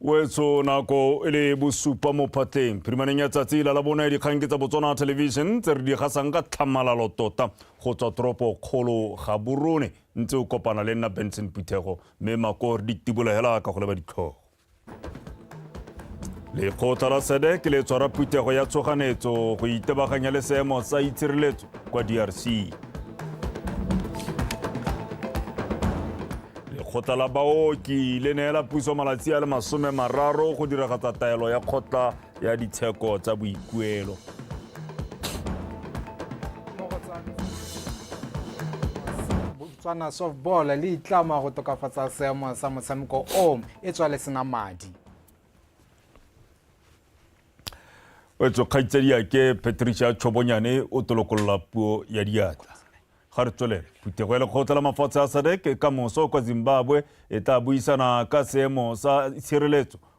wetso nako e le bosupa mo phatleng phirimaneng ya tsatsi la la bona ya dikgang ke tsa botswana television tse re di gasang ka tlhamalalo tota go tswa toropo kgolo ga borone Ntse o kopana le nna Benson Phuthego mme makor di tibola hela ka go leba ditlhogo. Lekgotla la SADC le tshwara phuthego ya tshoganetso go itebaganya le seemo sa itshireletso kwa DRC. Lekgotla la baoki le neela puso malatsi a le masome mararo go diragatsa taelo ya kgotla ya ditsheko tsa boikuelo. Botswana softball le itlama go tokafatsa seemo sa motshameko o e tswa le sena madi. wetso kgaitsadi yake patricia tšhobonyane o tolokolola puo ya diatla ga re tswelele phuthego ya lekgotla la mafatshe a sadek ka moso kwa zimbabwe e tla buisana ka seemo sa tshireletso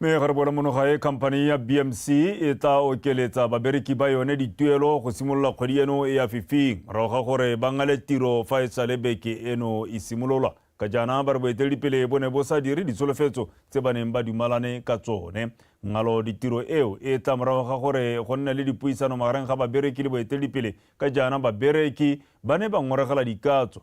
mme ga re bona monoga e khamphani ya bmc e tla okeletsa babereki ba yone dituelo go simolola kgwedi eno e ya fifing morago ga gore ba ngale tiro fa e sale beke eno e simololwa ka jaana ba re boeteledipele bo ne bo sa dire ditsholofetso tse ba neng ba dumalane ka tsone ngalo ditiro eo e tla morago ga gore go nne le dipuisano magareng ga babereki le boeteledipele ka jaana babereki ba ne ba ngoregela dikatso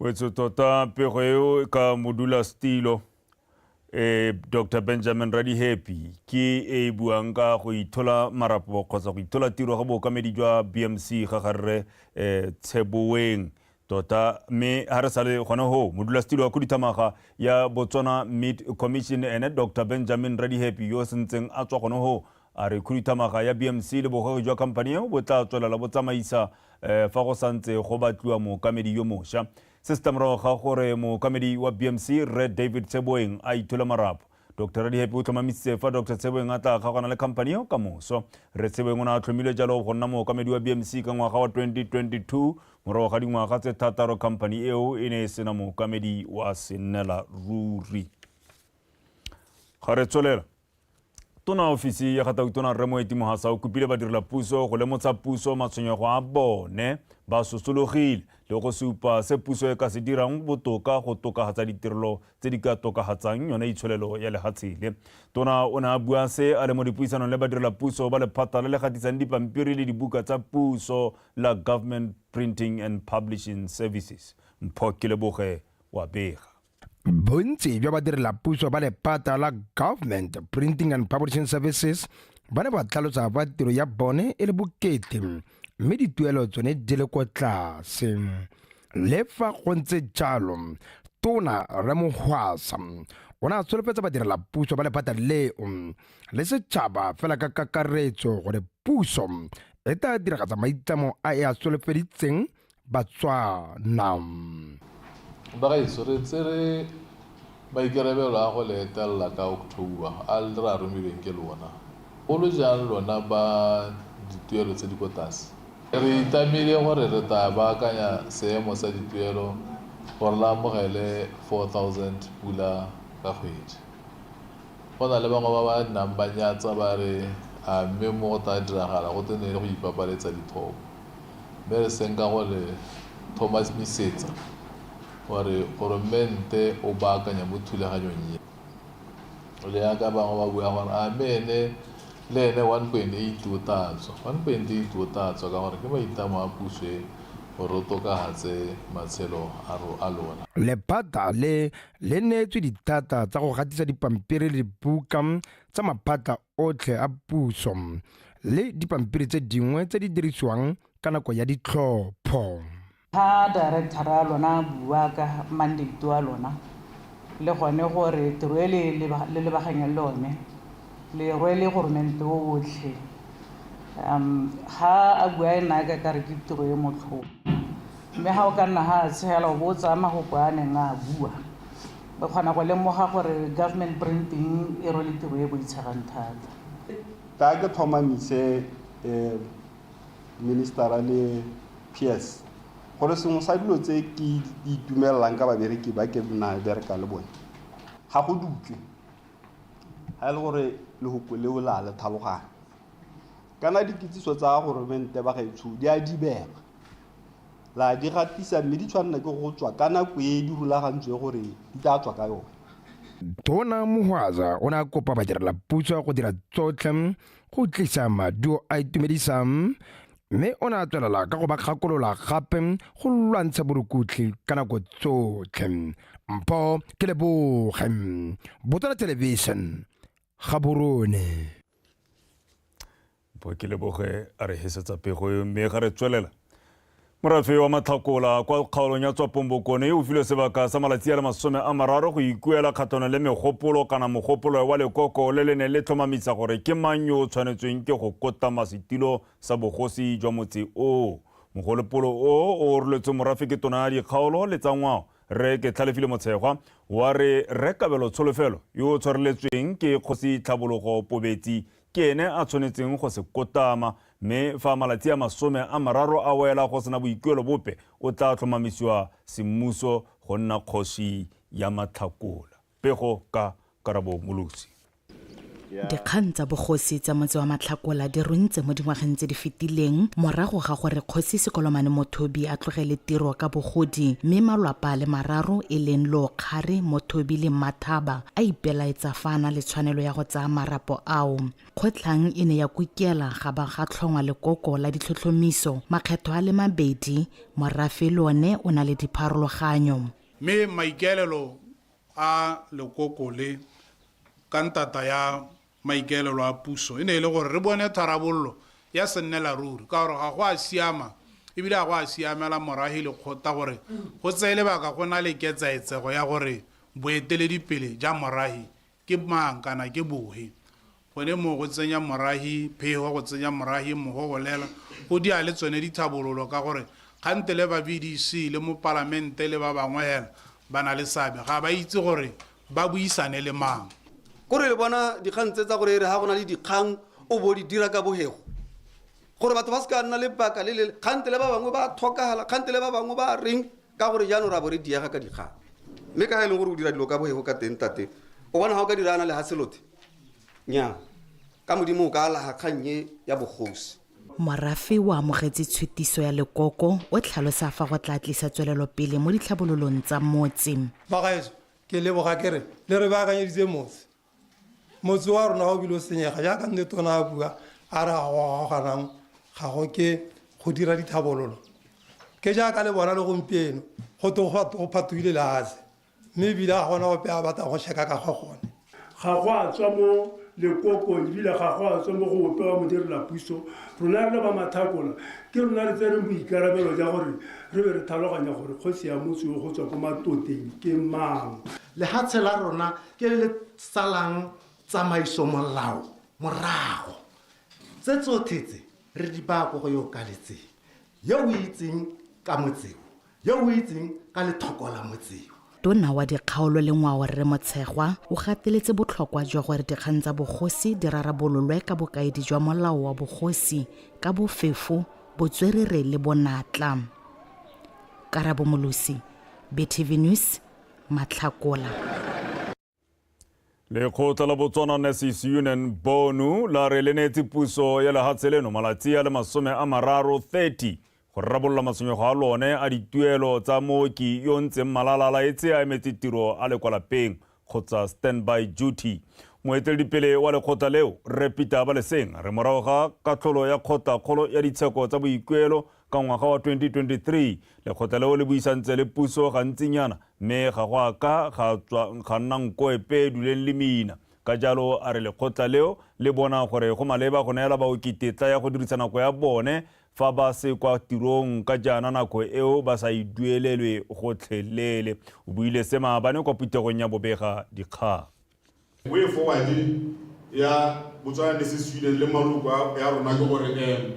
wetso tota pego eo ka modula stilo eh, dr benjamin radihappy ke e e buang ka go ithola marapo kgotsa go ithola tiro ga bookamedi jwa bmc ga garre um eh, tsheboeng tota mme ga re sale gone go modulasetilo wa khuduthamaga ya botswana mid commission ene dr benjamin radihappy yo o sentseng a tswa gone go A re khuduthamaga ya BMC le bogwegi jwa khamphani eo bo tla tswelela bo tsamaisa fa go sa ntse go batliwa mookamedi yo mosha. Se se tla morago ga gore mookamedi wa BMC, Rre David Tseboeng a ithule marapo. Doctor Radihappy o tlhomamisitse fa Doctor Tseboeng a tla kgaogana le khamphani eo ka moso. Rre Tseboeng o ne a tlhomilwe jalo go nna mookamedi wa BMC ka ngwaga wa 2022 morago ga dingwaga tse thataro khamphani eo e ne e sena mookamedi wa senela ruri. Ga re tswelela. Tona ofisi ya ga Tautona Rre Moeti Mohasa o kopile badirela puso go lemotsha puso matshwenyego a bone ba sosologile le go supa se puso e ka se dirang botoka go tokagatsa ditirelo tse di ka tokagatsang yone itsholelo ya lehatshe le. Tona o ne a bua se a le mo dipuisanong le badirela puso ba lephata le le gatisang dipampiri le dibuka tsa puso la Government Printing and Publishing Services. Mpho Keleboge wa bega. bontsi jwa badirelapuso ba lepata la government printing and publishing services ba ne ba tlhalosa fa tiro ya bone e le bokete mme dituelo tsone di le kwa tlase le fa go ntse jalo tona remohwasa o ne a tsholofetsa badirelapuso ba lephata leo le setšhaba fela ka kakaretso gore puso e tla diragatsa maitlamo a e a tsholofeditseng Batswana. Bagaetsho re tsere maikarabelo a go le etelela ka October a re a romilweng ke lona, golo jang lona ba dituelo tse di ko tlase. Re itamile gore re tla baakanya seemo sa dituelo gore le amogele 4,000 pula ka kgwedi. Go na le bangwe ba ba nnang ba nyatsa ba re a mme mo go tla diragala go twe ne e le go ipapaletsa dithopo. mme re seng ka go le tlhomamisetsa gore goromente o baakanya mo thulaganyong e. O le yaka bangwe ba bua gore a mme ene le ene 1.8 o tla tswa. 1.8 o tla tswa ka gore ke maitlamo a puso e gore o tokagatse matshelo a lona. Lephata le le neetswe dithata tsa go gatisa dipampiri le dibuka tsa maphata otlhe a puso le dipampiri tse dingwe tse di dirisiwang ka nako ya ditlhopho ga directora wa lona a bua ka mandate wa lona le gone gore tiro e le lebaganyang le one le rwele goromente o otlhe um ga a bua e naya ka kare ke tiro e motlhoko mme ga o ka nna ga a tshegela o bo o tsaya magoko a neng a bua Re kgona go lemoga gore government printing e rwele tiro e boitshegang thata. Ka ke tlhomamise ministera le PS gore sengwe sa dilo tse ke itumelelang ka babereki ba ke nna bereka le bone ga go dutswe ga e le gore lehoko leo la le tlhaloganya kana dikitsiso tsa goromente ba gaetsho di a dibega. ra di gatisa mme di tshwanela ke go tswa ka nako e di rulagantswe gore di tla tswa ka yone. Tona Mohwaza o ne a kopa badirelapuso go dira tsotlhe go tlisa maduo a itumedisang mme o ne a tswelela ka go ba kgakolola gape go lwantsha borukutlhi ka nako tsotlhe. Mpho ke leboge Botswana Television Gaborone. Bo ke leboge a re hesetsa pego eo mme ga re tswelela morafe wa matlhakola kwa kgaolong ya tswapong bokone o filwe sebaka sa malatsi a le masome a mararo go ikuela kgatlhanong le megopolo kana mogopolo wa lekoko le le neng le tlhomamisa gore ke mang yo o tshwanetsweng ke go kotama setulo sa bogosi jwa motse oo mogolopolo o o oroletswe morafe ke tona ya dikgaolo le tsa ngwao re ke tlhalefile motshegwa wa re rekabelo tsholofelo yo o tshwareletsweng ke kgosi tlhabologo pobetsi Ke ene a tshwanetseng go se kotama, mme fa malatsi a masome a mararo a wela go sena boikuelo bope, o tla tlhomamisiwa semmuso go nna kgosi ya Matlhakola. Pego ka Karabo Molosi. Dikgang tsa bogosi tsa motse wa Matlhakola di runtse mo dingwageng tse di fetileng morago ga gore Kgosi Sekolomane Mothobi a tlogele tiro ka bogodi mme malwapa a le mararo e leng Lookgare, Mothobi le Mmathaba a ipelaetsa fa a na le tshwanelo ya go tsaya marapo ao. Kgotlhang e ne ya kukela ga ba ga tlhongwa lekoko la ditlhotlhomiso makgetho a le mabedi, morafe le one o na le dipharologanyo. Mme maikaelelo a lekoko le ka ntata ya Maikaelelo a puso e ne e le gore re bone tharabololo ya sennelaruri ka gore ga go a siama e bile ga go a siamela moragi le kgota gore go tseye lebaka go na le ketsaetsego ya gore boeteledipele ja moragi ke mang kana ke bohe. Gone moo go tsenya moragi phego, go tsenya moragi mogo go lela go dia le tsone dithabololo ka gore kgante le ba BDC le mo palamente le ba bangwe hela ba na le seabe ga ba itse gore ba buisane le mang kore le bona dikgang tse tsa gore re ga go na le dikgang o bo di dira ka bogego gore batho ba se ka nna le baka le lele kgante le ba bangwe ba tlhokagala kgante le ba bangwe ba reng ka gore jaanong ra bo re diega ka dikgang mme ka ga e leng gore o dira dilo ka bogego ka teng tate o bona ga o ka dirana le ga selothe nya ka modimo o ka alaga kgang e ya bogosi Morafe o amogetse tshutiso ya lekoko o tlhalosa fa go tla tlisa tswelelopele mo ditlhabololong tsa motse. Bagaetsho, ke leboga ke re le re baakanyeditse motse. Motse wa rona ga o bile o senyega jaaka nne tona a bua a re ga go gagaganang ga go ke go dira dithabololo. Ke jaaka le bona le gompieno go twe go phatogile lehatshe Mme ebile ga gona ope a batlang go sheka ka ga gone. Ga go a tswa mo lekokong ebile ga go a tswa mo go ope wa modirelapuso. Rona re le ba Mathakola ke rona re tsereng boikarabelo ja gore re be re thaloganya gore kgosi ya motse yo go tswa ko Matoteng ke mang. Lehatshe la rona ke le le salang tsamaiso molao morago. Tse tsothe tse re di baya ko go yo o kaletseng, yo o itseng ka motse o. Yo o itseng ka lethoko la motseo. Tona wa Dikgaolo le Ngwao Rre Motshegwa o gateletse botlhokwa jwa gore dikgang tsa bogosi di rarabololwe ka bokaedi jwa molao wa bogosi ka bofefo, botswerere le bonatla. Karabo Molosi, BTV News, Matlhakola. lekgotla la botswana nurses union bonu la re le neetse puso ya lehatshe leno malatsi a le masome a mararo 30 go rarabolola matshwenyego a lone a dituelo tsa mooki yo ntseng malala la etse a emetse tiro a le kwa lapeng kgotsa standby duty moeteledipele wa lekgotla leo rre peter baleseng re morago ga katlholo ya kgotlakgolo ya ditsheko tsa boikuelo Ka ngwaga wa 2023, lekgotla leo le buisantse le puso gantsinyana mme ga go a ka ga tswa ga nna nko epe e duleng le mina. Ka jalo a re lekgotla leo le bona gore go maleba go neela baoki tetla ya go dirisa nako ya bone fa ba se kwa tirong ka jaana nako eo ba sa e duelelwe gotlhelele. O buile se maabane kwa phuthegong ya bobega dikgang. Way forward ya Botswana le se Sweden le maloko a- ya rona ke gore um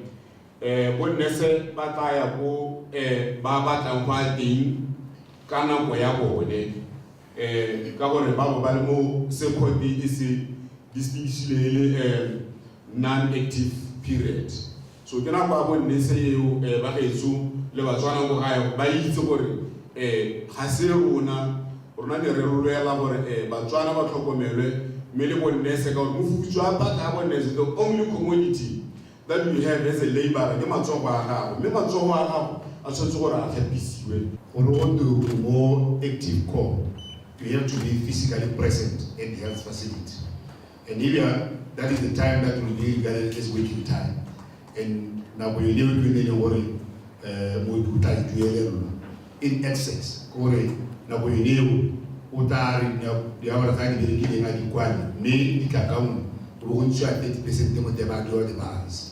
um bo nurse ba tla ya ko um ba batlang go ya teng ka nako ya bone um ka gore ba bo ba le mo se court e se distinguishile e le um non-active period so ke nako ya bonnese eo um ba gaetso le batswana ko gae ba itse gore um ga se rona rona ne re lwela gore um batswana ba tlhokomelwe mme le bonnese ka gore mofutso a baka ya bonnese the only commodity that you have as a labor ke matsogo a gago mme matsogo a gago a tshwanetse gore a tlhapisiwe gore o tiro mo active core you have to be physically present at the health facility and ebe ya that is the time that will be regarded as waiting time and nako yone o ke ne le gore um mooki o tla e duelelwa in excess gore nako yone eo o tla re diawara tsa di berekileng a di kwane mme di tla ka nngwe o bo go ntshiwa thirty percent mo tebadi or the balance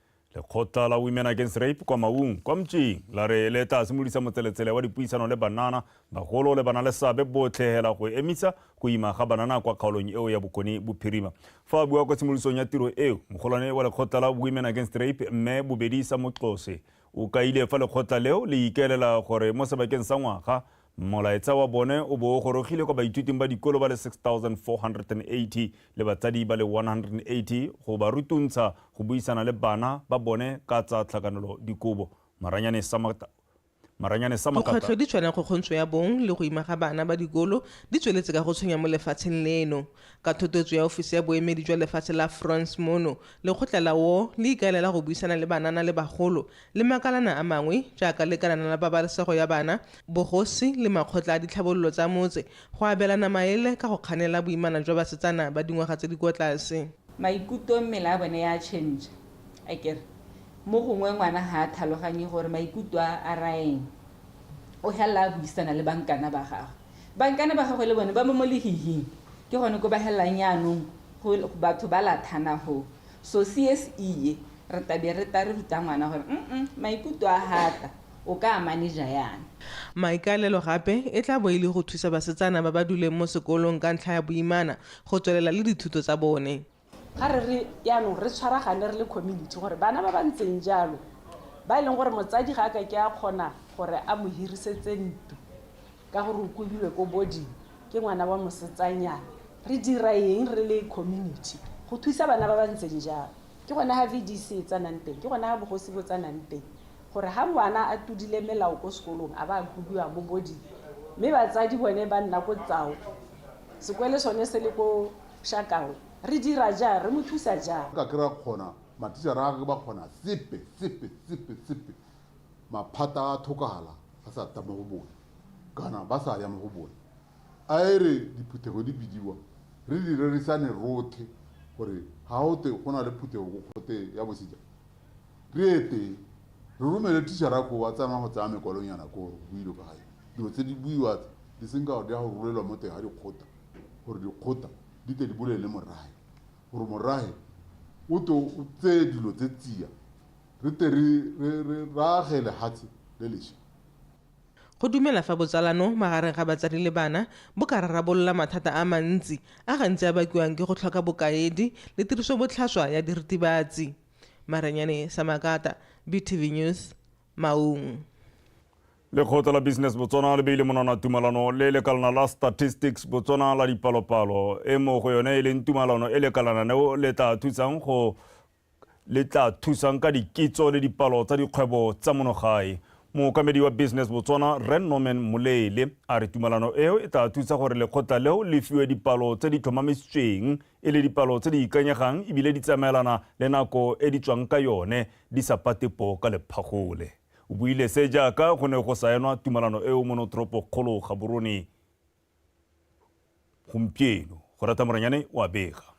Lekgotla la Women Against Rape kwa Maung, kwa Mtšing, la re le tla simolisa motseletsele wa dipuisano le banana, bagolo le bana le seabe botlhe hela go emisa go ima ga banana kwa kgaolong eo ya Bokone Bophirima. Fa a bua kwa tshimolosong ya tiro eo, mogolwane wa lekgotla la Women Against Rape, Mme Bobedisa Moxose, o kaile fa lekgotla leo le ikaelela gore mo sebakeng sa ngwaga Molaetsa wa bone o bo o gorogile kwa baithuting ba dikolo ba le 6,480 le batsadi ba le 180 go ba rutuntsha go buisana le bana ba bone ka tsa tlhakanelo dikobo. Maranyane sa Makata. Dikgwetlho di tshwana go kgontsho ya bong le go ima ga bana ba dikolo di tsweletse ka go tshwenya mo lefatsheng leno. Ka thotoetso ya ofisi ya boemedi jwa lefatshe la France mono, lekgotla la woo le ikaelela go buisana le banana le bagolo le makalana a mangwe jaaka lekalana la pabalesego ya bana, bogosi le makgotla a ditlhabololo tsa motse go abelana maele ka go kganela boimana jwa basetsana ba dingwaga tse di kwa tlase. Maikuto mmele a bone ya change a kere mo gongwe ngwana ha a thaloganye gore maikuto a a raeng o helela a buisana le bankana ba gagwe. Bankana ba gagwe le bone ba mo mo lehihing ke gone ko ba helelang yaanong go batho ba lathana hoo. So CSE e Re tla be re ta re ruta ngwana gore mm maikuto a hata o ka a maneja yana. Maikaelelo gape e tla bo e le go thusa basetsana ba ba duleng mo sekolong ka ntlha ya boimana go tswelela le dithuto tsa bone. Ga re re yanong re tshwaragane re le community gore bana ba ba ntseng jalo ba e leng gore motsadi ga a ka ke a kgona gore a mo hirisetse ntlo ka gore o kobilwe ko boarding ke ngwana wa mosetsanyana, re dira eng re le community go thusa bana ba ba ntseng jalo. Ke gona ga VDC e tsanang teng, ke gona ga bogosi bo tsanang teng, gore ga ngwana a tudile melao ko sekolong a ba a kubiwa mo boding, mme batsadi bone ba nna ko Tsao, sekwele sone se le ko Shakawe. Re dira jang? Re mo thusa jang? Ka kry-a kgona, mathicara a ga ke ba kgona sepe, sepe, sepe, sepe. Maphata a thokagala a sa ta mo go bone, kana ba sa ya mo go bone. A e re diphuthego di bidiwa, re di rerisane rothe gore ga go twe go na le phuthego ko Kgote ya Bosejana, re ye teng, re romele thišara koo a tsamaye go tsaya mekwalonyana koo go builwe ka ga yone, dilo tse di buiwa tse di seng ka gore di ya go rulelwa mo teng ga dikgota gore dikgota di tle di bolelele morahe gore morahe o twe o tseye dilo tse tsia re tle re age lehatshe le lesha. Go dumela fa botsalano magareng ga batsadi le bana bo ka rarabolola mathata a mantsi a gantsi a bakiwang ke go tlhoka bokaedi le tirisobotlhaswa ya diritibatsi. Marenyane Samakata, BTV News, Maun. Lekgotla la Business Botswana le beile monwana tumalano le lekalana la Statistics Botswana la dipalopalo, e mo go yone e leng tumalano e lekalananeo le tla thusang go le tla thusang ka dikitso le dipalo tsa dikgwebo tsa monogae. Mookamedi wa Business Botswana, Rre Norman Molele, a re tumalano eo e tla thusa gore lekgotla leo le fiwe dipalo tse di tlhomamisitsweng e le dipalo tse di ikanyegang ebile di tsamaelana le nako e di tswang ka yone di sa pate poo ka lephagole. O buile se jaaka go ne go saenwa tumalano eo mo notoropokgolo Gaborone. gompieno go rata moranyane o a bega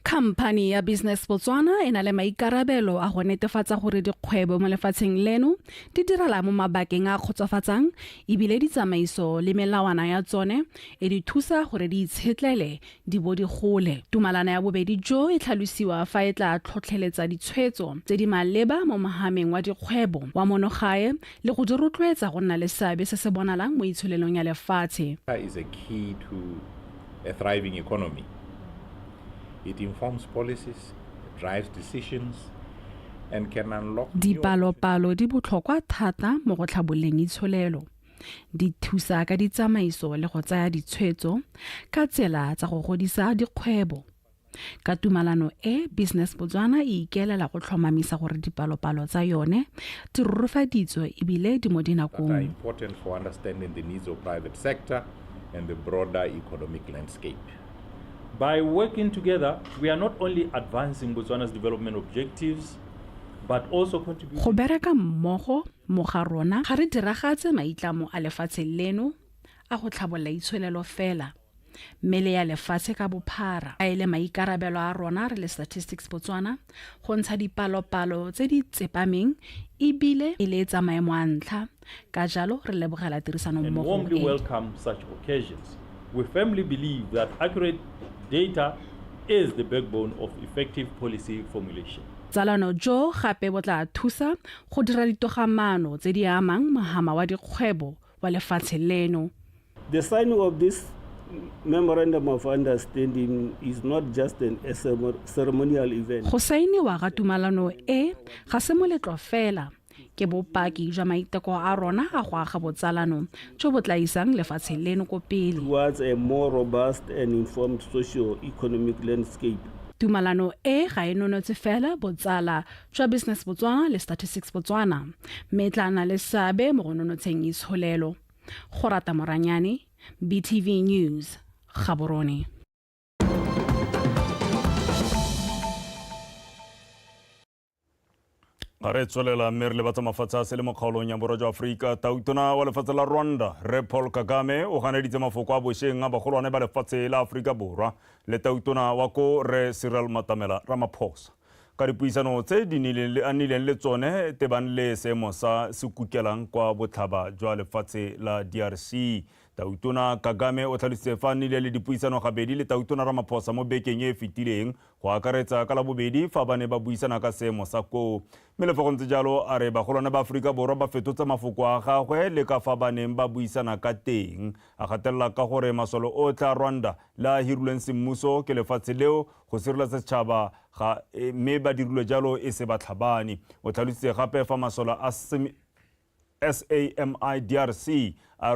Khamphani ya Business Botswana e na le maikarabelo a go netefatsa gore dikgwebo mo lefatsheng leno di direla mo mabakeng a kgotsofatsang ebile ditsamaiso le melawana ya tsone e di thusa gore di itshetlele di bo di gole. Tumalana ya bobedi jo e tlhalosiwa fa e tla tlhotlheletsa ditshwetso tse di maleba mo mogameng wa dikgwebo wa monogae le go di rotloetsa go nna le seabe se se bonalang mo itsholelong ya lefatshe. is a key to a thriving economy. It informs policies, drives decisions, and can unlock new Dipalopalo di botlhokwa thata mo go tlhabololeng itsholelo. di thusa ka ditsamaiso le go tsaya ditshwetso ka tsela tsa go godisa dikgwebo ka tumalano e business botswana e ikelela go tlhomamisa gore dipalopalo tsa yone di rorofaditswe ebile di mo dinakong and the broader economic landscape. By working together, we are not only advancing Botswana's development objectives, but also contributing... Go bereka mmogo Mo ga rona ga re diragatse maitlamo a lefatshe leno a go tlhabolola itsholelo fela, mme le ya lefatshe ka bophara. A e le maikarabelo a rona re le Statistics Botswana go ntsha dipalopalo tse di tsepameng e bile e le tsa maemo a ntlha, ka jalo re lebogela tirisanommogo e. Botsalano jo gape bo tla thusa go dira ditogamaano tse di amang mohama wa dikgwebo wa lefatshe leno. The signing of this Memorandum of Understanding is not just an ceremonial event. Go sainiwa ga tumalano e ga se moletlo fela ke bopaki jwa maiteko a rona a go aga botsalano jo bo tla isang lefatshe leno ko pele towards a more robust and informed socio-economic landscape tumalano e ga e nonotse fela botsala tša business botswana le statistics botswana mme e tla na le seabe mo go nonotsheng itsholelo go rata moranyane btv news gaborone ga re tswelela mme re le batsa mafatshe a se le mo kgaolong ya borwa jwa aforika tautona wa lefatshe la rwanda re paul kagame o ganeditse mafoko a bosheng a bagolwane ba lefatshe la aforika borwa le tautona wa ko re cyril matamela ramaphosa Ka dipuisano tse di nileng le a nileng le tsone tebang le seemo sa se kukelang kwa botlhaba jwa lefatshe la DRC, Tautona Kagame o tlhalositse fa a nile le dipuisano gabedi le Tautona Ramaphosa mo bekeng e e fetileng, go akaretsa ka Labobedi fa ba ne ba buisana ka seemo sa koo. Mme le fa go ntse jalo, a re bagolwane ba Aforika Borwa ba fetotse mafoko a gagwe le ka fa ba neng ba buisana ka teng, a gatelela ka gore masole otlhe a Rwanda le a a hirilweng semmuso ke lefatshe leo, go sireletsa setšhaba ga e, mme ba dirilwe jalo e se batlhabani o tlhalositse gape fa masole a SAMI DRC a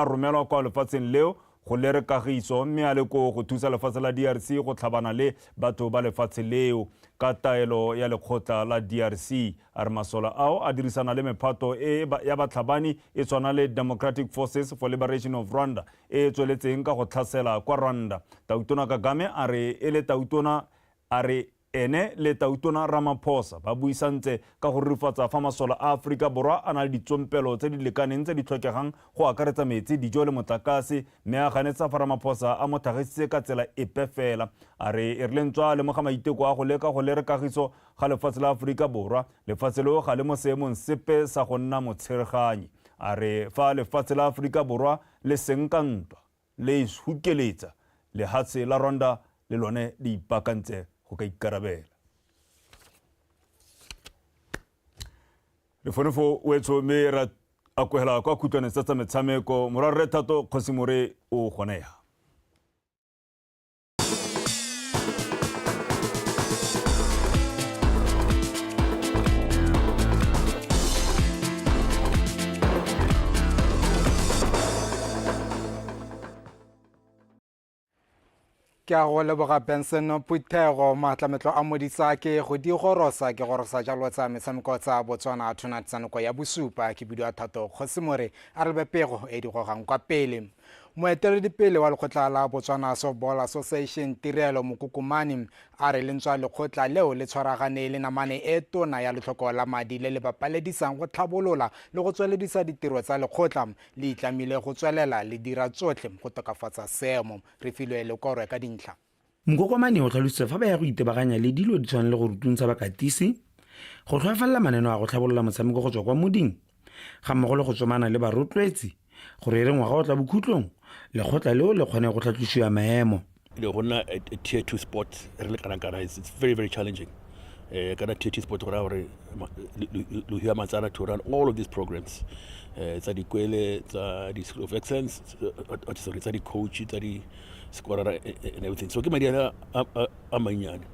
romelwa kwa lefatsheng leo go lere kagiso mme a le koo go thusa lefatshe la DRC go tlhabana le batho ba lefatshe leo ka taelo ya lekgotla la DRC a re masole ao a dirisana le mephato e ya batlhabani e tshwana le Democratic Forces for Liberation of Rwanda e e tsweletseng ka go tlhasela kwa Rwanda. Tautona Kagame a re e le tautona a re ene le Tautona Ramaphosa ba buisantse ka go rurifatsa fa masole a Aforika Borwa a na le ditsompelo tse di lekaneng tse di tlhokegang go akaretsa metsi, dijo le motlakase mme a ganetsa fa Ramaphosa a mo tlhagisitse ka tsela epe fela. A re e rile ntswa a lemoga maiteko a go leka go lere kagiso ga lefatshe la Aforika Borwa, lefatshe leo ga le mo seemong sepe sa go nna motshereganyi. A re fa lefatshe la Aforika Borwa le seng ka ntwa le ishukeletsa, lehatshe la Rwanda le lone le ipaakantse go ka ikarabela. Re fone fo wetsho mme ra akogela kwa khutlwane tsa tsa metshameko. Morwa Rre Thato Kgosimore o gone ya. ke a go leboga benson phuthego maatlametlo a modisa ke go di gorosa ke gorosa jalo tsa metshameko tsa botswana tonight tsa nako ya bosupa ke bidio a thato kgosimore a re bepego e di gogang kwa pele moeteledipele wa lekgotla la botswana softball association tirelo mokokomane a re lentswa lekgotla leo le tshwaragane le namane e tona ya letlhoko la madi le le bapaledisang go tlhabolola le go tsweledisa ditiro tsa lekgotla le itlamile go tswelela le dira tsotlhe go tokafatsa seemo re filwe lekorwe ka dintlha Mokokomane o tlhalositse fa ba ya go itebaganya le dilo di tshwana le go rutuntsha bakatisi, go tlhoafalela maneno a go tlhabolola motshameko go tswa kwa moding, ga mmogo le go tsomana le barotloetsi gore e re ngwaga o tla bokhutlong lekgotla leo le kgone go tlhatlosiwa maemo. le go nna a tier two sport re le kana kana it's, it's very very challenging uh, kana tier two sport go raya gore lo hira matsara to run all of these programs uh, tsa dikwele tsa di school of excellence uh, sorry tsa di-coach tsa di skorara and everything so ke madi a a mannyane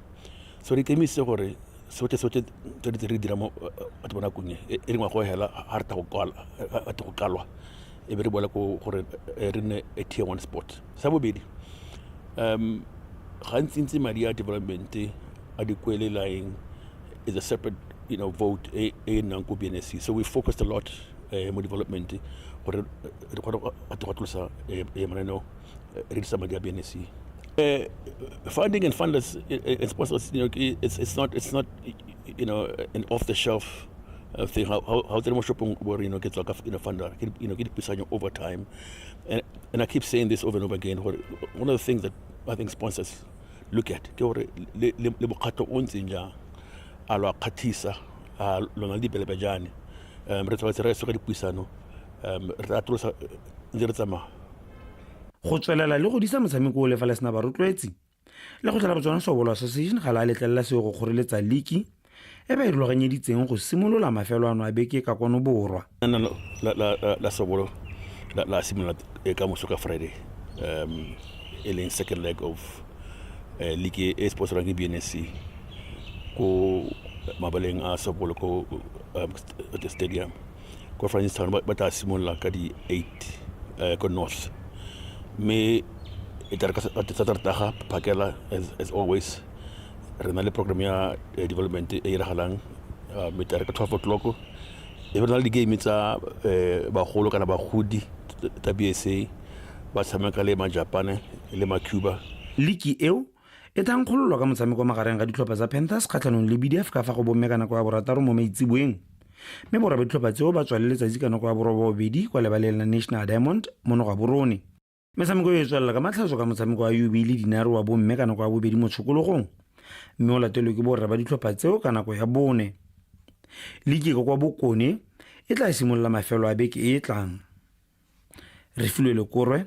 so re ikemisitse gore sotlhe sotlhe tse di tse re dira mo batho ba nakong e e rengwa go hela ga re ta go kalwa e be re boela ko gore re nne a tier one sport sa bobedi um gantsintsi madi a development a dikwelelaeng is a separate you know, vote e e nnang ko bnsc so we focused a lot uh, mo development gore re kgone go atlosa mananeo uh, reach some of their business. Uh, funding and funders uh, and sponsors, you know, it's, it's not it's not you know an off the shelf uh, thing. How how how the shopping where you know gets like a you know funder, you know get beside you over time, and and I keep saying this over and over again. Where one of the things that I think sponsors look at, ke gore le le le bokgato o ntseng jang, a lo kgathisa, a lona di belebe jane. Um, re tshwanetse re soka dipuisano, um, re tla tlosa ntse re tsamaya. go tswelela le go disa motshameko o lefa le sena barotloetsi le go tlala botswana sobolo association ga la letlelela seo go kgoreletsa liki e ba e rulaganyeditseng go simolola mafelo ano a beke ka kwano borwa la sobolo la simolola e ka moso ka friday um e leng second leg of eh, league e sponsorang ke bnsc ko mabaleng a sobolo ko um, stadium kwa francistown ba ba tla simolola ka di-eight um ko north mme e tla re ka sa- ka sa tartaga phakela as, as always re na le program ya eh, development e e iragalang uh, mme tla re ka twelve o'clock e be re na le di-game tsa eh, bagolo kana bagodi tsa bsa ba tshameka le majapane le macuba liki eo e thankgololwa ka motshameko magareng ga ditlhopha tsa panthers kgatlhanong le bdf ka fa go bomme ka nako ya borataro mo maitseboeng mme borwa ditlhopha tseo ba tswale letsatsi ka nako ya borobobedi kwa lebaleng la national diamond mo noga borone metshameko e e tswelela ka matlhatso ka motshameko wa ub le dinare wa bomme ka nako ya bobedi mo tshokologong mme o latelwe ke borra ba ditlhopha tseo ka nako ya bone liki ka kwa bokone e tla simolola mafelo a beke e e tlang Refilwe Lekorwe,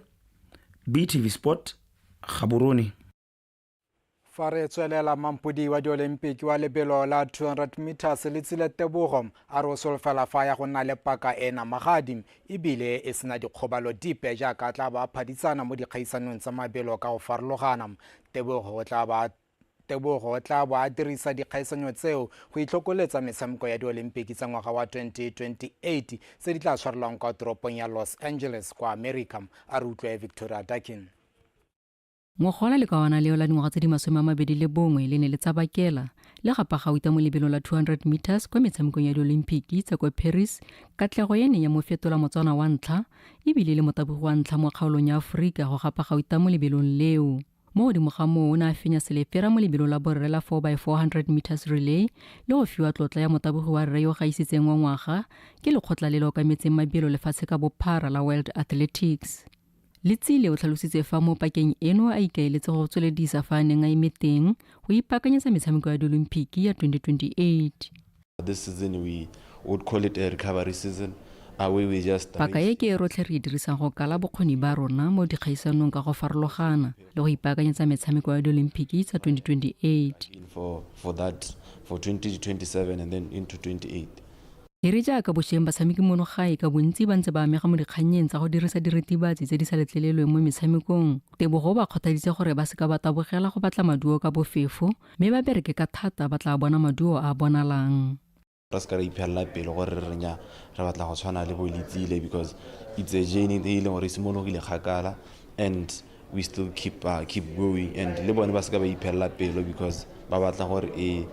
BTV Sport, Gaborone. Fa re tswelela mampodi wa diolimpiki wa lebelo la 200 meters le tsile tebogo a re o solofela fa ya go nna le paka e namagadi ebile e sena dikgobalo dipe jaaka tla ba phaditsana mo dikgaisanong tsa mabelo ka go farologana tebogo o tla ba Tebogo o tla bo a dirisa dikgaisanyo tseo go itlhokoletsa metshameko ya diolimpiki tsa ngwaga wa 2028 tse di tla tshwarelwang kwa toropong ya Los Angeles kwa America. A re utlwe Victoria Dakin. Ngogola le kawana leo la dingwaga tse di masome a mabedi le bongwe le ne le tsabakela le gapa gauta mo lebelong la 200 meters kwa metshamekong ya diolimpiki tsa kwa Paris, katlego e neng ya mo fetola Motswana wa ntlha e bile le motabogi wa ntlha mo kgaolong ya Aforika go gapa gauta mo lebelong leo. mo godimo ga moo o ne a fenya selepera mo lebelo la borre la 4 by 400 meters relay le go fiwa tlotla ya motabogi wa rre yo gaisitseng wa ngwaga ke lekgotla le le okametseng mabielo lefatshe ka bophara la world athletics letsile o tlhalositse fa mo pakeng eno a ikaeletse go tsweledisa fa a neng a eme teng go ipaakanyetsa metshameko ya diolimpiki ya 2028 This season we would call it a recovery season. Paka e ke e rotlhe re e dirisang go kala bokgoni ba rona mo dikgaisanong ka go farologana le go ipaakanyetsa metshameko ya di-olympic tsa 2028 e re jaaka bosheng batshameki mono gae ka bontsi ba ntse ba amega mo dikgannyeng tsa go dirisa diritibatsi tse di sa letlelelweng mo metshamekong tebogo ba kgothaditse gore ba seka ba tabogela go batla maduo ka bofefo mme ba bereke ka thata ba tla bona maduo a a bonalang. re seka ra iphelela pelo gore re renya re batla go tshwana le bolitsile because it's a journey e e leng gore e simologile kgakala and we still keep, uh, keep going and le bone ba seka ba iphelela pelo because ba batla gore e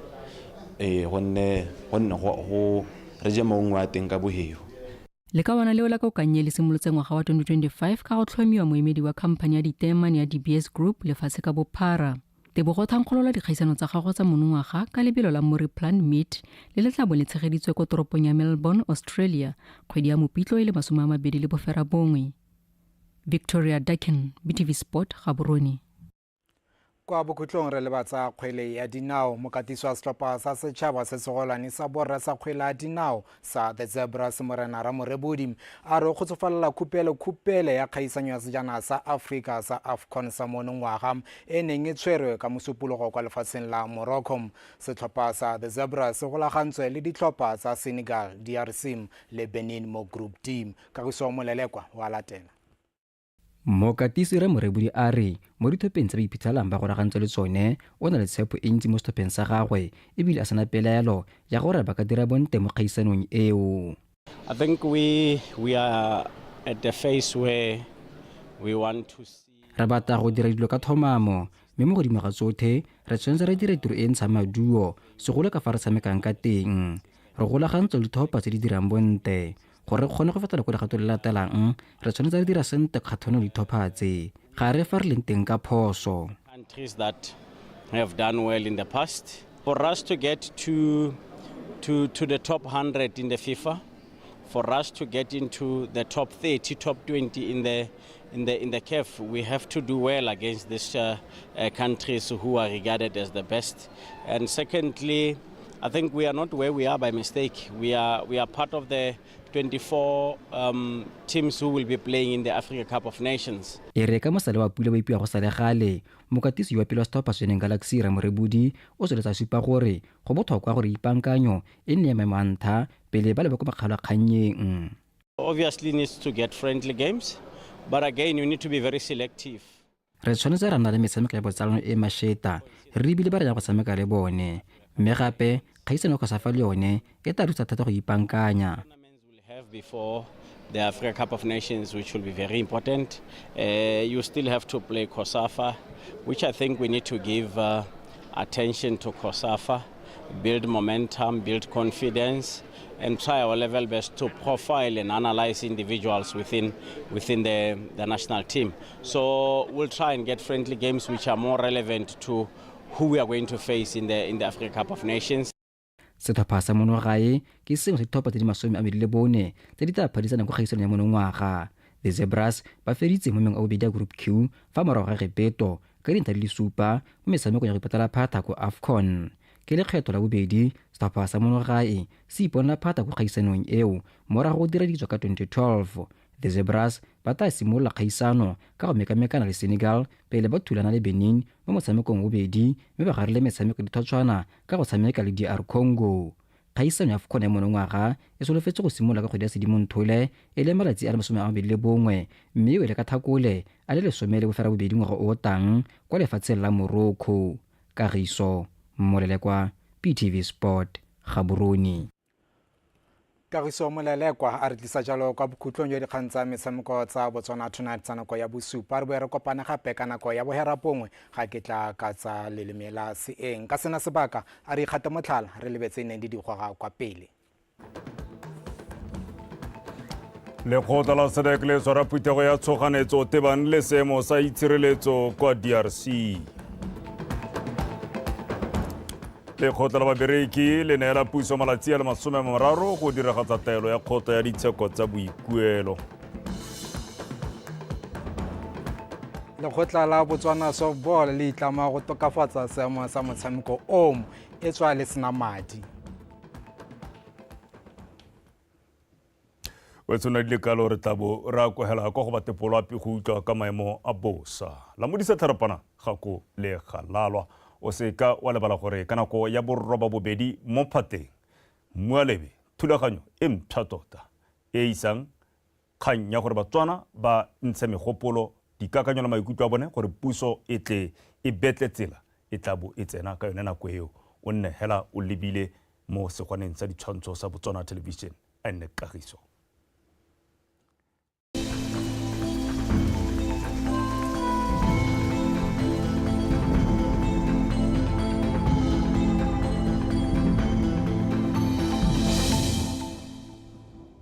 e gonne gonne go go re je maungwe a teng ka boheo le ka bona leo la kokanye le simolotse ngwaga wa 2025 ka go tlhomiwa moemedi wa khamphani ya diteman ya dbs group lefatshe ka bophara Tebogo o thankgolola dikgaisano tsa gagwe tsa monongwaga ka lebelo la Muri Plant Meet le le tla bo le tshegeditswe kwa toropong ya Melbourne, Australia, kgwedi ya Mopitlo e le masome a mabedi le boferabongwe. Victoria Duckin, BTV Sport, Gaborone. kwa bokhutlong re leba tsa kgwele ya dinao mokatiso wa setlhopha sa setšhaba se segolwane sa borra sa kgwele ya dinao sa The Zebras Morena Ramorebodi a re o kgotsofalela khupelo khupele ya kgaisanyo ya sejana sa Afrika sa AFCON sa monongwaga e neng e tshwerwe ka mosupologo kwa lefatsheng la Morocco. Setlhopha sa The Zebras se golagantswe le ditlhopha tsa Senegal, DRC le Benin mo Group D. Kagiso Molelekwa wa latela. Mokatisi Re Morebudi a re mo dithopheng tse ba iphitlhelang ba goragantswe le tsone, o na le tshepo e ntsi mo sethopheng sa gagwe e bile a sena pelaelo ya gore ba ka dira bontle mo kgaisanong eo. I think we, we are at the phase where we want to see Re batla go dira dilo ka thomamo, mme mo godimo ga tsothe, re tshwanetse re dire tiro e e ntshang maduo, segolo ka fa re tshamekang ka teng. Re golagantswe le dithopha tse di dirang bontle. gore re kgone go feta ko legato le latelang re tshwanetse re dira sente kgathone dithopha tse ga re fa re leng teng ka phoso countries that have done well in the past for us to get to to to the top 100 in the FIFA for us to get into the top 30 top 20 in the In the, in the CAF, we have to do well against these uh, uh, countries who are regarded as the best. And secondly, I think we are not where we are by mistake. We are, we are part of the 24 um, teams who will be playing in the Africa Cup of Nations. e re ka mosale wa pula ba ipiwa go sale gale mokatisi wa pele wa setlhopha seneng galaxy ramorebodi o tsweletsa supa gore go botlhokwa gore ipankanyo e nne ya maemo a ntha pele ba leba ko makgalo a kgannyeng Obviously needs to get friendly games, but again you need to be very selective. re tshwanetse ra nna le metshameko ya botsalano e masheta re ebile ba re ya go tshameka le bone mme gape kgaisano go sa fa le yone e tla thusa thata go ipankanya Tournaments will have before the Africa Cup of Nations, which will be very important. Uh, you still have to play COSAFA, which I think we need to give uh, attention to COSAFA. build momentum, build confidence, and try our level best to profile and analyze individuals within within the, the national team. So we'll try and get friendly games which are more relevant to who we are going to face in the in the Africa Cup of Nations. setlhopha sa mono gae ke sengwe sa ditlhopha tse di masome a medi le bone tse di tla phadisana kwa kgaisanong ya monongwaga the zebras ba feditse mo meng a bobedi ya group q fa morago ga gepeto ka dintlha di le supa mo metshamekong ya go ipatala phata ko afcon ke lekgetho la bobedi setlhopha sa monogae se iponela phata ko kgaisanong eo morago go dira ditso ka 2012 the zebras ba tla simolola kgaisano ka go mekamekana le senegal pele ba thulana le benin mo motshamekong bobedi mme ba garile metshameko dithotshwana ka go tshameka le dr congo Kgaisano ya AFCON ya monongwaga e solofetse go simolola ka kgwedi ya Sedimonthole e leng malatsi a le masome a mabedi le bongwe mme e wele ka Tlhakole a le lesome le boferabobedi ngwaga o o tang kwa lefatsheng la Morocco. Kagiso Molelekwa, PTV Sport, Gaborone. Kagiso Molelekwa a re tlisa jalo kwa bokhutlong jwa dikgang tsa metshameko tsa Botswana Tonight tsa nako ya bosupa. Re boe re kopane gape ka nako ya boherapongwe Ga ke tla ka tsa lelemela seeng ka sena sebaka, a re ikgate motlhala, re lebe tse neng di di goga kwa pele. Lekgotla la SADC le tshwara phuthego ya tshoganetso tebang le seemo sa itshireletso kwa DRC. Lekgotla la babereki le neela puso malatsi a le masome mararo go diragatsa taelo ya kgotla ya ditsheko tsa boikuelo. lekgotla la botswana softball le itlama go tokafatsa seemo sa motshameko omo e tswa le sena madi o tshwana di lekalo re tlabo re a kwegela kwa go batepolo ape go utlwa ka maemo a bosa la modisa tlharapana ga ko le galalwa o se ka wa lebala gore ka nako ya borroba bobedi mo phateng mmualebe thulaganyo e mpsha tota e e isang kgang ya gore Batswana ba ntshe megopolo, dikakanyo le maikutlo a bone gore puso e tle e betle tsela e tla bo e tsena ka yone nako eo. O nne hela o lebile mo segwaneng sa ditshwantsho sa Botswana Television, Annet Kagiso.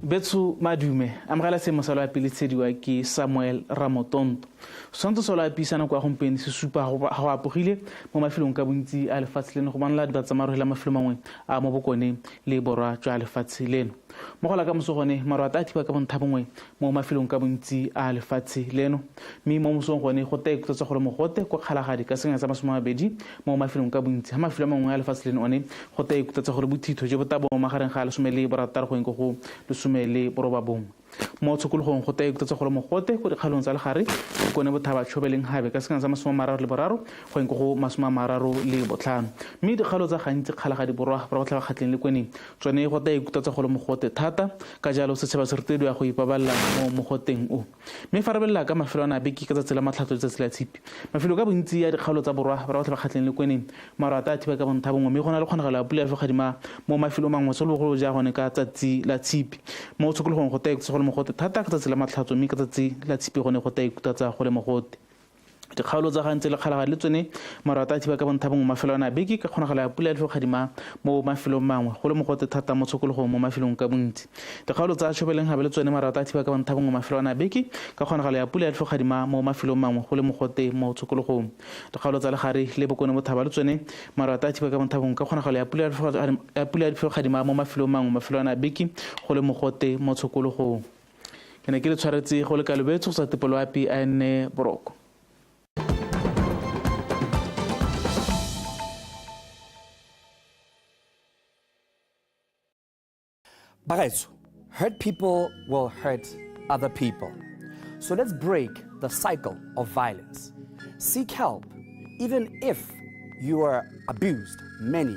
Betso madume, amogela se mosalo ya pele tshediwa ke Samuel Ramotonto. Setshwantsho solo a piisana kwa gompieno se supa go apogile mo mafelong ka bontsi a lefatshe leno go bonala diba tsa marohela mafelo mangwe a mo bokone le borwa jwa lefatshe leno. Mo gola ka moso gone, maroata a thiba ka bontha bongwe mo mafelong ka bontsi a lefatshe leno, mme mo mosong gone go tla ikutsa gore mogote kwa Kgalagadi ka senyana sa masome a mabedi mo mafelong ka bontsi ha mafelo a mangwe a lefatshe leno one go tla ikutsa gore bothitho jo bo tla bo magareng ga lesome le borataro go eng ko go lesome le borobabongwe mo tshokologong go tla ikutsa gore mogote ko dikgaolong tsa legare ke kone bothaba tshobeleng gabe ka senyana sa masome a mararo le boraro go eng ko go masome a mararo le botlhano mme dikgaolo tsa gantsi Kgalagadi borwa borwa botlhaba kgatleng le kweneng Tsone go tla ikutlwa tsa go le mogote thata, ka jalo setšhaba se rotediwa go ipabalela mo mogoteng o. Mme fa re belela ka mafelo a na beke ka tsatsi la matlhatso le tsatsi la tshipi, mafelo ka bontsi a dikgaolo tsa borwa ba botlhe ba kgatlheng le kweneng maru a tla thiba ka bontha bongwe mme go na le kgonagalo ya pula ya fogadima mo mafelong mangwe segolobogolo ja gone ka tsatsi la tshipi. Mo tshokologong go tla ikutlwa tsa go le mogote thata ka tsatsi la matlhatso mme ka tsatsi la tshipi gone go tla ikutlwa tsa go le mogote. Dikgaolo tsa gantse le kgalagadi le tsone maru a tla thiba ka bontha bongwe mafelo a na beke ka kgonagalo ya pula ya tlhogadima mo mafelong mangwe go le mogote thata mo tshokologong mo mafelong ka bontsi. Dikgaolo tsa Tšhobeleng gabe le tsone maru a tla thiba ka bontha bongwe mafelo a na beke ka kgonagalo ya pula ya tlhogadima mo mafelong mangwe go le mogote mo tshokologong. Dikgaolo tsa Legare le Bokone Bothaba le tsone maru a tla thiba ka bontha bongwe ka kgonagalo ya pula ya tlhogadima mo mafelong mangwe mafelo a na beke go le mogote mo tshokologong. ke ne ke le tshwaretse go le kalobetso go sa tepoloapi a enne boroko Bagaetso, hurt people will hurt other people. So let's break the cycle of violence. Seek help, even if you are abused many